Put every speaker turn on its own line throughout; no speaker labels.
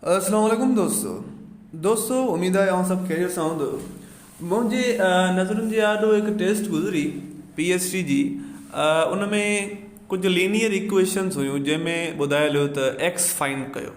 السلام عليڪم دوستو دوستو اميد آهي سڀ خيريت سان هوندو منهنجي نظرن جي آڏو هڪ ٽيسٽ گذري پي ايس ٽي جي ان ۾ ڪجهه لينيئر اڪويشنس هيون جنهن ۾ ٻڌايل هيو ته ايڪس فائنڊ ڪيو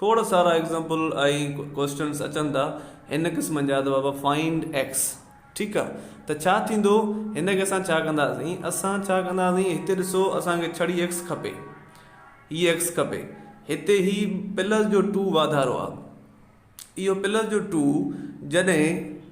کوڙ سارا ايگزامپل ۽ ڪوئسٽنس اچن ٿا ان قسمن جا ته بابا فائنڊ ايڪس ٺيڪ آ ته ڇا ٿيندو هن کي اسان ڇا ڪنداسين اسان ڇا ڪنداسين هتي ڏسو اسان کي ڇڙي ايڪس کپي هي ايڪس کپي هتي هي پلس جو ٽو واڌارو آ اهو پلس جو ٽو جڏهن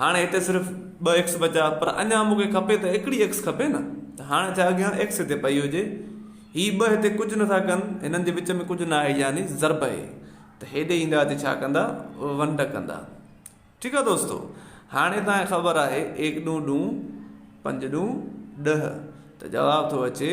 هاڻي هتي صرف ٻه ايڪس بچا پر اڃان مون کي کپي ته هڪڙي ايڪس کپي نه ته هاڻي ڇا اڳيان ايڪس هتي پئي هجي هي ٻه هتي ڪجهه نه ٿا ڪن هنن جي وچ ۾ ڪجهه نه آهي يعني ضرب اي ته هيڏي ايندا هتي ڇا ڪندا ونڊ ڪندا ٺيڪ آهي دوستو هاڻي تان خبر آهي ايڪ ڏون ڏون پنج ڏون ڏه ته جواب ٿو اچي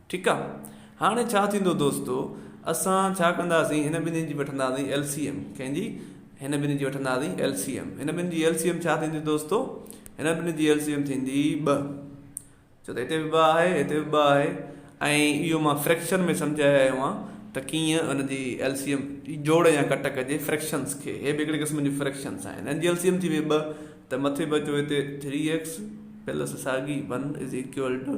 ٺيڪ آ هاڻي ڇا ٿيندو دوستو اسان ڇا ڪنداسين هن ٻنهين جي وٺنداسين ايل سي ايم ڪنهن جي هن ٻنهين جي وٺنداسين ايل سي ايم هن ٻنهين جي ايل سي ايم ڇا ٿيندي دوستو هن ٻنهين جي ايل سي ايم ٿيندي ٻه ڇو ته هتي به ٻه آهي هتي به ٻه آهي ۽ اهو مان فريڪشن ۾ سمجهايو آيو آهي ته ڪيئن ان جي ايل سي ايم جوڙ يا ڪٽ ڪجي فريڪشنس کي هي به هڪڙي قسم جي فريڪشنس آهن ان جي ايل سي ايم ٿي وئي ٻه ته مٿي بچو هتي ٿري ايڪس پلس ساڳي ون از ايڪول ٽو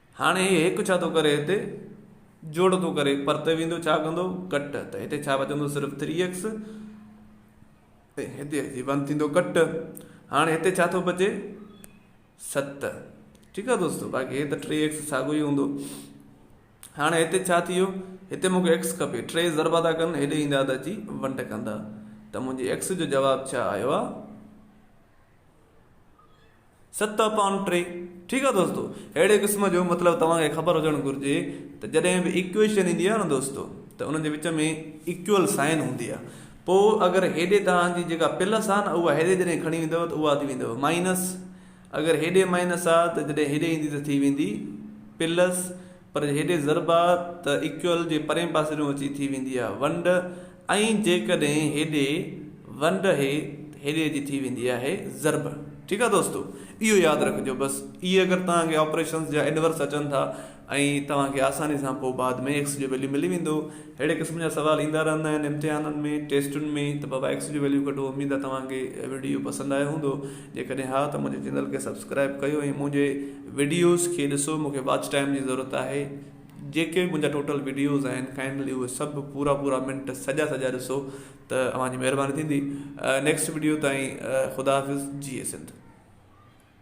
هاڻي هي هڪ ڇا ٿو ڪري هتي؟ جوڙ ٿو ڪري. پرتي ويندو ڇا ڪندو؟ ڪٽ. ته هتي ڇا بچندو؟ صرف ٿري ايڪس. ۽ هتي اچي ون ٿيندو ڪٽ. هاڻي هتي ڇا ٿو بچي؟ ست. ٺيڪ آهي دوستو. باقي هي ته ٽي ايڪس ساڳو ئي هوندو. هاڻي هتي ڇا ٿي ويو؟ هتي مونکي ايڪس کپي. ٽي ضربا ٿا ڪن هيڏي ايندا ته اچي ونٽ ڪندا. ته منهنجي ايڪس جو جواب ڇا آيو آهي؟ ست اپان ٽي ٺيڪ آ دوستو اهڙي قسم جو مطلب توهان کي خبر هجڻ گهرجي ته جڏهن به ايڪويشن ايندي آ نه دوستو ته انهن جي وچ ۾ ايڪول سائن هوندي آ پو اگر هيڏي توهان جي جيڪا پلس آ نه اها هيڏي جڏهن کڻي ويندو ته اها ٿي ويندو مائنس اگر هيڏي مائنس آ ته جڏهن هيڏي ايندي ته ٿي ويندي پلس پر هيڏي ضرب آ ته ايڪيول جي پرين پاسريون اچي ٿي ويندي آ ونڊ ۽ جيڪڏهن هيڏي ونڊ اهي ته هيڏي جي ٿي ويندي آهي ضرب ٺيڪ آ دوستو اهو ياد رکجو بس اهي اگر توهان کي آپريشنس جا انورس اچن ٿا ۽ توهان کي آساني سان پوء بعد ۾ ايڪس جو ويليو ملي ويندو ههڙي قسم جا سوال ايندا رهندا آهن امتحانن ۾ ٽيسٽن ۾ ته بابا ايڪس جو ويليو ڪڍو اميد آ توهان کي ويڊيو پسند آيو هوندو جيڪڏهن ها ته منهنجي چينل کي سبسڪرائب ڪيو ۽ منهنجي وڊيوز کي ڏسو مونکي واچ ٽائيم جي ضرورت آهي جيڪي به منهنجا ٽوٽل وڊيوز آهن ڪائنڊلي اهي سڀ پورا پورا منٽ سڄا سڄا ڏسو ته اوهان جي مهرباني ٿيندي نيڪسٽ وڊيو تائين خدا حافظ جئي سنڌ